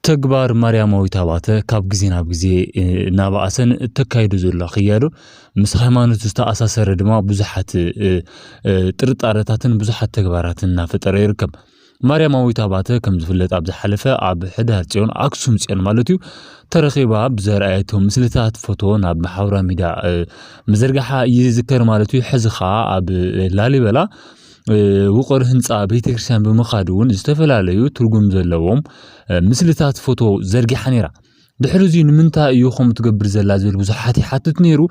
ተግባር ማርያማዊት ኣባተ ካብ ግዜ ናብ ግዜ እናበኣሰን እተካይዶ ዘሎ ክያዶ ምስ ሃይማኖት ዝተኣሳሰረ ድማ ብዙሓት ጥርጣረታትን ብዙሓት ተግባራትን እናፈጠረ ይርከብ። ማርያማዊት ኣባተ ከም ዝፍለጥ ኣብ ዝሓለፈ ኣብ ሕዳር ፅዮን ኣክሱም ፅዮን ማለት እዩ ተረኺባ ብዘርኣየቶ ምስልታት ፎቶ ናብ ማሕበራዊ ሚድያ ምዝርጋሓ ይዝከር ማለት እዩ። ሕዚ ከዓ ኣብ ላሊበላ ውቕር ህንፃ ቤተክርስትያን ብምኻድ እውን ዝተፈላለዩ ትርጉም ዘለዎም ምስልታት ፎቶ ዘርጊሓ ነይራ ድሕሪ እዚ ንምንታይ እዩ ከምኡ ትገብር ዘላ ዝብል ብዙሓት ይሓትት ነይሩ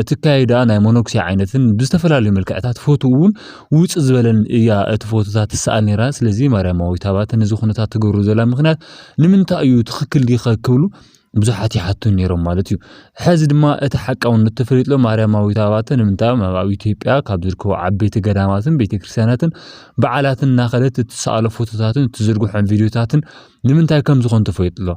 እቲ ካይዳ ናይ መነኩሴ ዓይነትን ብዝተፈላለዩ መልክዕታት ፎቶ እውን ውፅ ዝበለን እያ እቲ ፎቶታት ትሰኣል ነይራ ስለዚ ማርያማዊት ኣባተ ነዚ ኩነታት ትገብሩ ዘላ ምክንያት ንምንታይ እዩ ትኽክል ዲኸ ክብሉ ብዙሓት ይሓቱ ነይሮም ማለት እዩ ሕዚ ድማ እቲ ሓቃውነት ተፈሊጥሎ ማርያማዊት ኣባተ ንምንታይ ኣብ ኢትዮጵያ ካብ ዝርከቡ ዓበይቲ ገዳማትን ቤተክርስትያናትን በዓላትን እናኸደት እትሰኣሎ ፎቶታትን እትዝርግሖን ቪድዮታትን ንምንታይ ከም ዝኾኑ ተፈሊጥሎ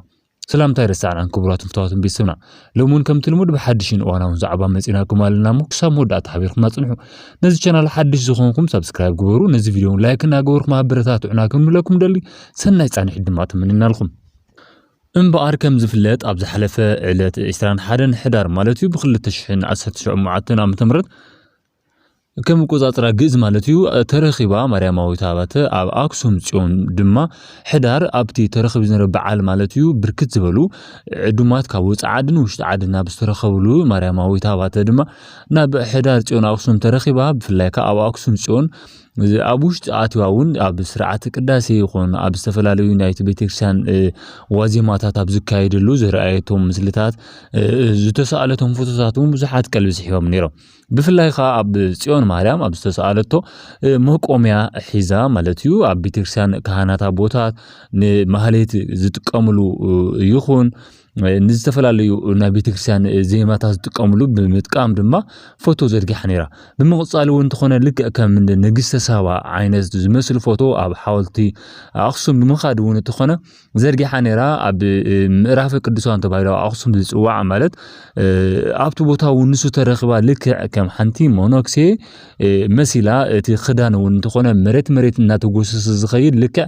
ሰላምታ ይረሳዕናን ክቡራት ፍታዋትን ቤተሰብና ሎሚ እውን ከምቲ ልሙድ ብሓድሽን እዋናውን ዛዕባ መፂናኩም ኣለና እሞ ክሳብ መወዳእታ ሓቢርኩም ኣፅንሑ ነዚ ቻናል ሓድሽ ዝኾንኩም ሰብስክራይብ ግበሩ ነዚ ቪድዮ ላይክ እናገበርኩም ኣበረታትዑና ክንብለኩም ደሊ ሰናይ ፃንሒት ድማ ትምንናልኩም እምበኣር ከም ዝፍለጥ ኣብ ዝሓለፈ ዕለት ዕስራን ሓደን ሕዳር ማለት እዩ ብክልተ ሽሕን ዓሰርተ ሸሞዓተን ዓመተ ምህረት ከም መቆጻጽራ ግእዝ ማለት እዩ ተረኺባ ማርያማዊት ኣባተ ኣብ ኣክሱም ጽዮን ድማ ሕዳር ኣብቲ ተረኺቡ ዝነበረ በዓል ማለት እዩ ብርክት ዝበሉ ዕዱማት ካብ ወፃ ዓድን ውሽጢ ዓድን ናብ ዝተረኸብሉ ማርያማዊት ኣባተ ድማ ናብ ሕዳር ጽዮን ኣክሱም ተረኺባ ብፍላይ ከዓ ኣብ ኣክሱም ጽዮን እዚ ኣብ ውሽጢ ኣትዋ እውን ኣብ ስርዓተ ቅዳሴ ይኹን ኣብ ዝተፈላለዩ ናይቲ ቤተክርስትያን ዋዜማታት ኣብ ዝካየደሉ ዝረኣየቶም ምስልታት ዝተሰኣለቶም ፎቶታት እውን ብዙሓት ቀልቢ ስሒቦም ነይሮም ብፍላይ ከዓ ኣብ ፅዮን ማርያም ኣብ ዝተሰኣለቶ መቆምያ ሒዛ ማለት እዩ ኣብ ቤተክርስትያን ካህናት ኣቦታት ንማህሌት ዝጥቀምሉ ይኹን ንዝተፈላለዩ ናይ ቤተክርስትያን ዜማታት ዝጥቀምሉ ብምጥቃም ድማ ፎቶ ዘርጊሓ ነይራ ብምቕፃል እውን እንተኾነ ልክዕ ከም ንግስተ ሳባ ዓይነት ዝመስል ፎቶ ኣብ ሓወልቲ ኣኽሱም ብምኻድ እውን እንተኾነ ዘርጊሓ ነይራ ኣብ ምዕራፈ ቅዱሳን ተባሂሉ ኣኽሱም ዝፅዋዕ ማለት ኣብቲ ቦታ እውን ንሱ ተረኺባ ልክዕ ከም ሓንቲ ሞኖክሴ መሲላ እቲ ክዳን እውን እንተኾነ መሬት መሬት እናተጎሰሰ ዝኸይድ ልክዕ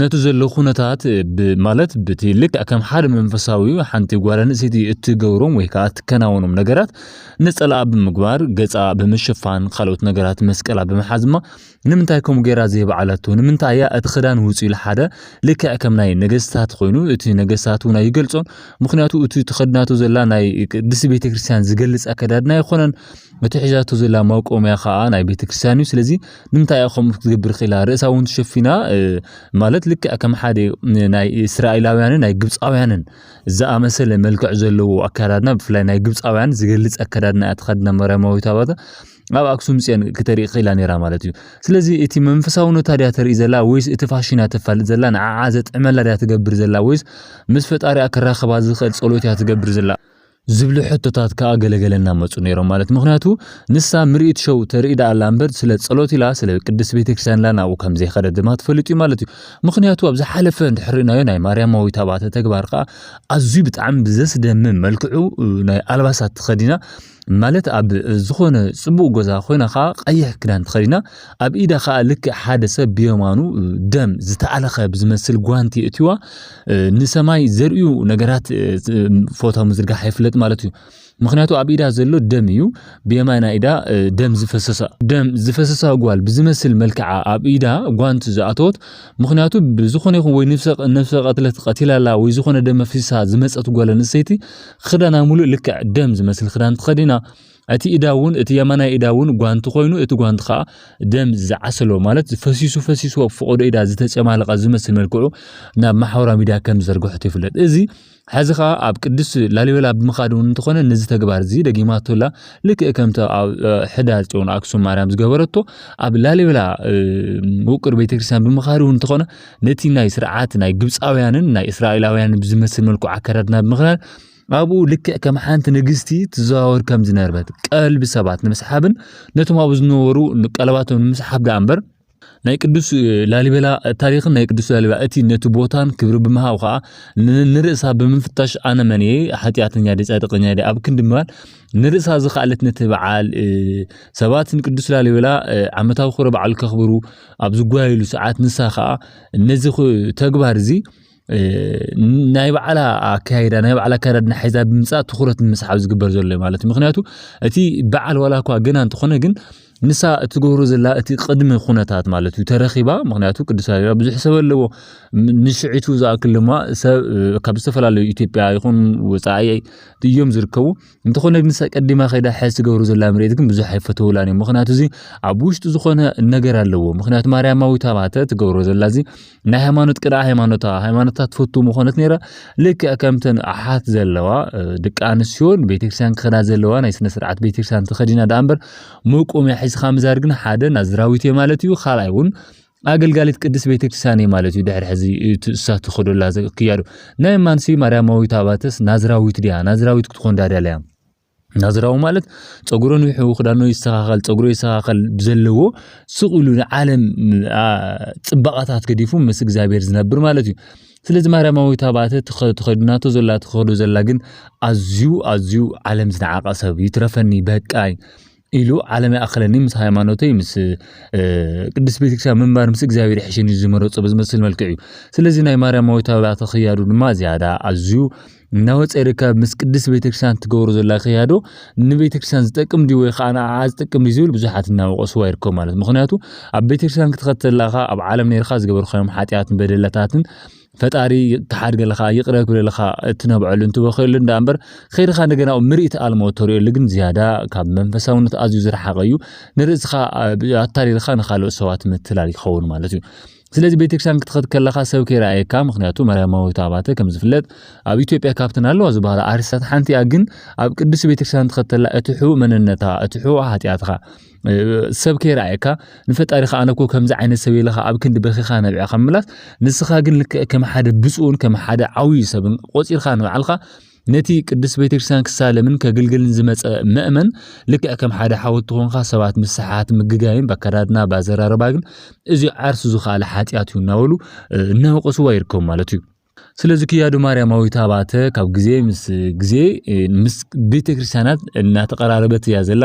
ነቲ ዘሎ ኩነታት ብ ማለት ብቲ ልክዕ ከም ሓደ መንፈሳዊ ሓንቲ ጓል ኣንስተይቲ እትገብሮም ወይ ከኣ እትከናወኖም ነገራት ነጸላኣ ብምግባር ገጻ ብምሽፋን ካልኦት ነገራት መስቀላ ብምሓዝ እማ ንምንታይ ከምኡ ገይራ ዘይበዓላቶ ንምንታይ እያ እቲ ክዳን ውጽኡ ኢሉ ሓደ ልክዕ ከም ናይ ነገስታት ኮይኑ እቲ ነገስታት እውን ኣይገልጾን ምክንያቱ እቲ ተኸድናቶ ዘላ ናይ ቅድስቲ ቤተክርስትያን ዝገልጽ ኣከዳድና ኣይኮነን እቲ ሒዛቶ ዘላ መቆምያ ከኣ ናይ ቤተክርስትያን እዩ ስለዚ ንምንታይ እያ ከምኡ ክትገብር ክኢላ ርእሳ እውን ተሸፊና ማለት ልክዕ ከም ሓደ ናይ እስራኤላውያንን ናይ ግብፃውያንን ዝኣመሰለ መልክዕ ዘለዎ ኣከዳድና ብፍላይ ናይ ግብፃውያን ዝገልፅ ኣከዳድና እያ ተኸድና ማርያማዊት ኣባታ ኣብ ኣክሱም ፅዮን ክተርኢ ክኢላ ነይራ ማለት እዩ ስለዚ እቲ መንፈሳውነታ ድያ ተርኢ ዘላ ወይስ እቲ ፋሽን እያ ተፋልጥ ዘላ ንዓዓ ዘጥዕመላ ድያ ትገብር ዘላ ወይስ ምስ ፈጣሪኣ ክራኸባ ዝኽእል ፀሎት እያ ትገብር ዘላ ዝብሉ ሕቶታት ከኣ ገለ ገለ እናመጹ ነይሮም ማለት ምክንያቱ ንሳ ምርኢት ሸው ተርኢ ደኣ ኣላ እምበር ስለ ጸሎት ኢላ ስለ ቅድስት ቤተክርስትያን ኢላ ናብኡ ከም ዘይኸደት ድማ ትፈልጥ እዩ ማለት እዩ ምክንያቱ ኣብ ዝሓለፈ እንድሕር ርኢናዮ ናይ ማርያማዊት ኣባተ ተግባር ከኣ ኣዝዩ ብጣዕሚ ብዘስደምም መልክዑ ናይ ኣልባሳት ተኸዲና ማለት ኣብ ዝኾነ ጽቡቕ ገዛ ኮይና ከዓ ቀይሕ ክዳን ተኸዲና ኣብ ኢዳ ከዓ ልክዕ ሓደ ሰብ ብየማኑ ደም ዝተኣለኸ ብዝመስል ጓንቲ እትዋ ንሰማይ ዘርእዩ ነገራት ፎቶ ምዝርጋሕ የፍለጥ ማለት እዩ ምክንያቱ ኣብ ኢዳ ዘሎ ደም እዩ ብየማና ኢዳ ደም ዝፈሰሳ ደም ዝፈሰሳ ጓል ብዝመስል መልክዓ ኣብ ኢዳ ጓንቲ ዝኣተወት ምክንያቱ ብዝኾነ ይኹን ወይ ነፍሰ ቀትለት ቀቲላላ ወይ ዝኾነ ደም ኣፍሲሳ ዝመፀት ጓል ኣንስተይቲ ክዳና ሙሉእ ልክዕ ደም ዝመስል ክዳን ተኸዲና እቲ ኢዳ እውን እቲ የማናይ ኢዳ እውን ጓንቲ ኮይኑ እቲ ጓንቲ ከዓ ደም ዝዓሰሎ ማለት ፈሲሱ ፈሲሱ ኣብ ፈቐዶ ኢዳ ዝተጨማለቐ ዝመስል መልክዑ ናብ ማሕበራዊ ሚዲያ ከም ዝዘርግሖ ይፍለጥ እዚ ሕዚ ከዓ ኣብ ቅዱስ ላሊበላ ብምኻድ እውን እንተኾነ ነዚ ተግባር እዚ ደጊማቶላ ልክእ ከምቲ ኣብ ሕዳር ፅዮን ኣክሱም ማርያም ዝገበረቶ ኣብ ላሊበላ ውቅር ቤተክርስትያን ብምኻድ እውን እንተኾነ ነቲ ናይ ስርዓት ናይ ግብፃውያንን ናይ እስራኤላውያንን ብዝመስል መልኩ ኣከዳድና ብምኽዳን ኣብኡ ልክዕ ከም ሓንቲ ንግስቲ ትዘዋወር ከም ዝነበረት ቀልቢ ሰባት ንምስሓብን ነቶም ኣብኡ ዝነበሩ ቀለባቶም ንምስሓብ ደኣ እምበር ናይ ቅዱስ ላሊበላ ታሪኽን ናይ ቅዱስ ላሊበላ እቲ ነቲ ቦታን ክብሪ ብምሃብ ከዓ ንርእሳ ብምፍታሽ ኣነ መን እየ ሓጢኣተኛ ደ ፃድቀኛ ደ ኣብ ክንዲ ምባል ንርእሳ ዝኸኣለት ነቲ በዓል ሰባት ንቅዱስ ላሊበላ ዓመታዊ ክብረ በዓል ከኽብሩ ኣብ ዝጓየሉ ሰዓት ንሳ ከዓ ነዚ ተግባር እዚ ናይ ባዕላ ኣካይዳ ናይ ባዕላ ኣካዳድና ሒዛ ብምፃእ ትኩረት ንምስሓብ ዝግበር ዘሎ እዩ ማለት እዩ ምክንያቱ እቲ በዓል ዋላ እኳ ገና እንተኾነ ግን ንሳ እትገብሮ ዘላ እቲ ቅድሚ ኩነታት ማለት እዩ ተረኺባ ምክንያቱ ቅዱስ ላሊበላ ብዙሕ ሰብ ኣለዎ ንሽዒቱ ዝኣክል ድማ ሰብ ካብ ዝተፈላለዩ ኢትዮጵያ ይኹን ወፃኢ እዮም ዝርከቡ እንተኾነ ግን ቀዲማ ከይዳ ሕዚ ትገብሩ ዘላ ምርኢት ግን ብዙሕ ኣይፈተውላን እዩ ምክንያቱ እዚ ኣብ ውሽጡ ዝኾነ ነገር ኣለዎ ምክንያቱ ማርያማዊት ኣባተ ትገብሮ ዘላ እዚ ናይ ሃይማኖት ቅድኣ ሃይማኖታ ሃይማኖታ ትፈቱ ምኾነት ነይራ ልክዕ ከምተን ኣሓት ዘለዋ ደቂ ኣንስትዮን ቤተክርስትያን ክኸዳ ዘለዋ ናይ ስነ ስርዓት ቤተክርስትያን ተኸዲና ደኣ እምበር መቆምያ ሒዝካ ምዛር ግን ሓደ ናዝራዊት እየ ማለት እዩ ካልኣይ እውን ኣገልጋሊት ቅድስት ቤተ ክርስቲያን እየ ማለት እዩ ድሕሪ ሕዚ እሳ ትኸደላ ክያዶ ናይ ማንሲ ማርያማዊት ኣባተስ ናዝራዊት ድያ ናዝራዊት ክትኾን ዳዳለያ ናዝራዊ ማለት ፀጉሮ ንውሑ ክዳኖ ይስተኻኸል ፀጉሮ ይስተኻኸል ብዘለዎ ስቕ ኢሉ ንዓለም ፅባቐታት ገዲፉ ምስ እግዚኣብሔር ዝነብር ማለት እዩ ስለዚ ማርያማዊት ኣባተ ተኸድናቶ ዘላ ትኸዶ ዘላ ግን ኣዝዩ ኣዝዩ ዓለም ዝነዓቐ ሰብ ይትረፈኒ በቃይ ኢሉ ዓለም ይኣኽለኒ ምስ ሃይማኖተይ ምስ ቅድስት ቤተክርስትያን ምንባር ምስ እግዚኣብሔር ይሕሸኒ ዝመረጾ ብዝመስል መልክዕ እዩ። ስለዚ ናይ ማርያማዊት ኣባተ ክያዶ ድማ ዝያዳ ኣዝዩ እናወፀ ይርከብ። ምስ ቅድስት ቤተክርስትያን ትገብሮ ዘላ ክያዶ ንቤተክርስትያን ዝጠቅም ድዩ ወይ ከዓ ንዓዓ ዝጠቅም ድዩ ዝብል ብዙሓት እናወቀስዋ ይርከቡ ማለት ምክንያቱ ኣብ ቤተክርስትያን ክትኸተል ለካ ኣብ ዓለም ነርካ ዝገበርካዮም ሓጢኣትን በደለታትን ፈጣሪ ተሓድገለካ ይቅረ ክብለልካ እትነብዐሉ እንትበኸየሉ እንዳ እምበር ከይድኻ እንደገና ምርኢት ኣልሞ ተርእየሉ ግን ዝያዳ ካብ መንፈሳውነት ኣዝዩ ዝረሓቀ እዩ ንርእስኻ ኣታሊልካ ንካልኦት ሰባት ምትላል ይኸውን ማለት እዩ ስለዚ ቤተክርስትያን ክትኸድ ከለካ ሰብ ከይረኣየካ ምክንያቱ ማርያማዊት ኣባተ ከም ዝፍለጥ ኣብ ኢትዮጵያ ካብተን ኣለዋ ዝበሃላ ኣርቲስታት ሓንቲ እያ ግን ኣብ ቅዱስ ቤተክርስትያን ትኸተላ እቲ ሕቡእ መንነታ እቲ ሕቡእ ሓጢኣትካ ሰብ ከይረኣየካ ንፈጣሪኻ ኣነ እኮ ከምዚ ዓይነት ሰብ ኢለኻ ኣብ ክንዲ በኺኻ ነቢዕኻ ምምላስ ንስኻ ግን ልክዕ ከም ሓደ ብፁዕን ከም ሓደ ዓብዩ ሰብን ቆፂርካ ንባዕልካ ነቲ ቅድስት ቤተክርስትያን ክሳለምን ከግልግልን ዝመፀ መእመን ልክዕ ከም ሓደ ሓወት ትኾንካ ሰባት ምስ ሰሓት ምግጋይን በከዳድና ባዘራረባ ግን እዚ ዓርሱ ዝኸኣለ ሓጢኣት እዩ እናበሉ እናወቀስዋ ይርከቡ ማለት እዩ ስለዚ ክያዶ ማርያማዊት ኣባተ ካብ ግዜ ምስ ግዜ ምስ ቤተክርስትያናት እናተቐራረበት እያ ዘላ።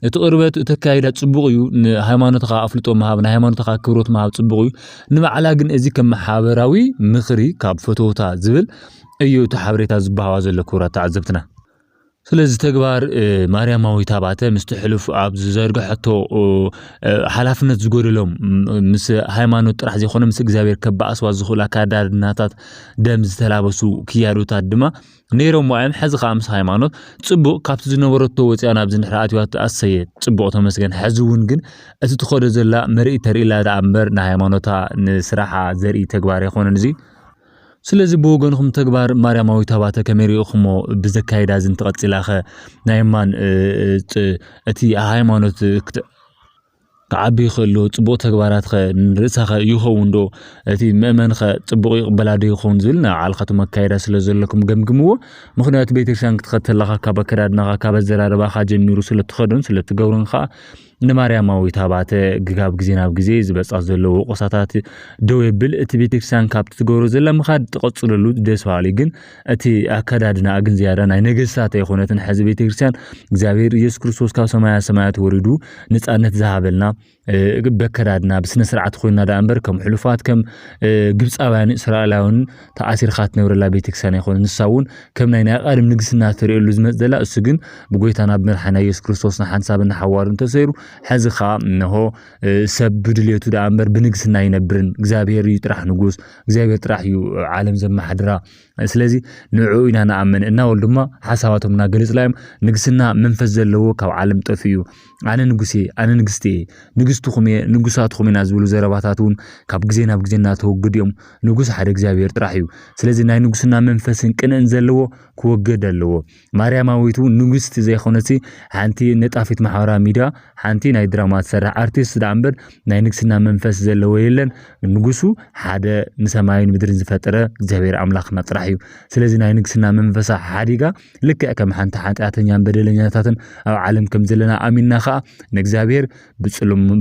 እቲ ቅርበት እቲ ኣካይዳ ጽቡቕ እዩ። ንሃይማኖትካ ኣፍልጦ ምሃብ፣ ንሃይማኖትካ ክብሮት ምሃብ ጽቡቕ እዩ። ንባዕላ ግን እዚ ከም ማሕበራዊ ምኽሪ ካብ ፈተውታ ዝብል እዩ እቲ ሓበሬታ ዝባሃዋ ዘሎ ክብራት ተዓዘብትና። ስለዚ ተግባር ማርያማዊት ኣባተ ምስቲ ሕሉፍ ኣብ ዝዘርግሐቶ ሓላፍነት ዝጎደሎም ምስ ሃይማኖት ጥራሕ ዘይኮነ ምስ እግዚኣብሔር ከባኣስዋ ዝኽእሉ ኣካዳድናታት ደም ዝተላበሱ ክያዶታት ድማ ነይሮም እዮም። ሕዚ ከዓ ምስ ሃይማኖት ፅቡቅ ካብቲ ዝነበረቶ ወፅያ ናብ ዝንሕራ ኣትዋት ኣሰየ ፅቡቅ ተመስገን። ሕዚ እውን ግን እቲ ትኸዶ ዘላ መርኢ ተርኢ ኣላ ደኣ እምበር ንሃይማኖታ ንስራሓ ዘርኢ ተግባር ኣይኮነን እዚ ስለዚ ብወገንኹም ተግባር ማርያማዊት ኣባተ ከመይ ርኢኹሞ? ብዘካይዳ እዚ እንተቐጺላኸ ናይ እማን እቲ ሃይማኖት ክዓቢ ይኽእልዶ? ጽቡቕ ተግባራትከ ንርእሳኸ ይኸውንዶ? እቲ መእመንኸ ጽቡቕ ይቕበላዶ ይኸውን ዝብል ናይ ባዕልኻትኩም ኣካይዳ ስለ ዘለኩም ገምግምዎ። ምኽንያቱ ቤተክርስትያን ክትኸድ ተለኻ ካብ ኣከዳድናኻ ካብ ኣዘራርባኻ ጀሚሩ ስለ እትኸዶን ስለ እትገብሮን ከኣ ንማርያማዊት ኣባተ ግጋብ ግዜ ናብ ግዜ ዝበጻ ዘሎ ወቆሳታት ደው የብል እቲ ቤተክርስትያን ካብቲ ትገብሮ ዘላ ምኻድ ትቐጽለሉ ደስ በሃሊ ግን እቲ ኣከዳድና ግን ዝያዳ ናይ ነገስታት ኣይኮነትን ሕዚ ቤተክርስትያን እግዚኣብሔር ኢየሱስ ክርስቶስ ካብ ሰማያ ሰማያት ወሪዱ ነጻነት ዝሃበልና በከዳድና ብስነ ስርዓት ኮይና ዳኣ እምበር ከም ሕሉፋት ከም ግብጻውያን እስራኤላውያን ተኣሲርካ ትነብረላ ቤተክርስቲያን ኣይኮነን። ንሳ እውን ከም ናይ ናይ ኣቓድም ንግስና ትርእየሉ ዝመጽእ ዘላ፣ እሱ ግን ብጎይታና ብመድሓኒና ኢየሱስ ክርስቶስ ንሓንሳብን ንሓዋሩን ተሰይሩ፣ ሕዚ ከኣ እነሆ ሰብ ብድሌቱ ደኣ እምበር ብንግስና ኣይነብርን። እግዚኣብሔር እዩ ጥራሕ ንጉስ፣ እግዚኣብሔር ጥራሕ እዩ ዓለም ዘመሓድራ። ስለዚ ንዕኡ ኢና ንኣምን። እና ወል ድማ ሓሳባቶም እናገለጹላ እዮም። ንግስና መንፈስ ዘለዎ ካብ ዓለም ጠፊኡ እዩ። ኣነ ንጉስ እየ፣ ኣነ ንግስቲ እየ፣ ንግስትኹም እየ፣ ንጉሳትኹም ኢና ዝብሉ ዘረባታት እውን ካብ ግዜ ናብ ግዜ እናተወግዱ እዮም። ንጉስ ሓደ እግዚኣብሔር ጥራሕ እዩ። ስለዚ ናይ ንጉስና መንፈስን ቅንእን ዘለዎ ክወገድ ኣለዎ። ማርያማዊት እውን ንግስቲ ዘይኮነሲ ሓንቲ ነጣፊት ማሕበራዊ ሚዲያ ሓንቲ ናይ ድራማ ትሰርሕ ኣርቲስት ደኣ እምበር ናይ ንግስና መንፈስ ዘለዎ የለን። ንጉሱ ሓደ ንሰማይን ምድርን ዝፈጠረ እግዚኣብሔር ኣምላኽና ጥራሕ እዩ። ስለዚ ናይ ንግስና መንፈሳ ሓዲጋ ልክዕ ከም ሓንቲ ሓጢኣተኛን በደለኛታትን ኣብ ዓለም ከም ዘለና ኣሚንና ከዓ ንእግዚኣብሔር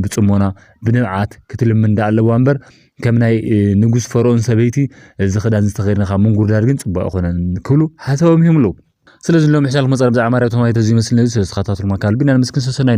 ብፅሞና ብንብዓት ክትልምን ዳ ኣለዋ እምበር ከም ናይ ንጉስ ፈርኦን ሰበይቲ እዚ ክዳን ዝተኸድነ ካብ ምንጉርዳድ ግን ፅቡቅ ኣይኮነን ክብሉ ሓሳቦም ይህም ኣለዉ ስለዚ ሎም ሕሻልኩም መፀር ብዛዕባ ማርያም ተማይተ እዚ ይመስል ነዚ ስለዝተኸታተልኩም ኣካል ግን ኣንምስክን ሰሰናይ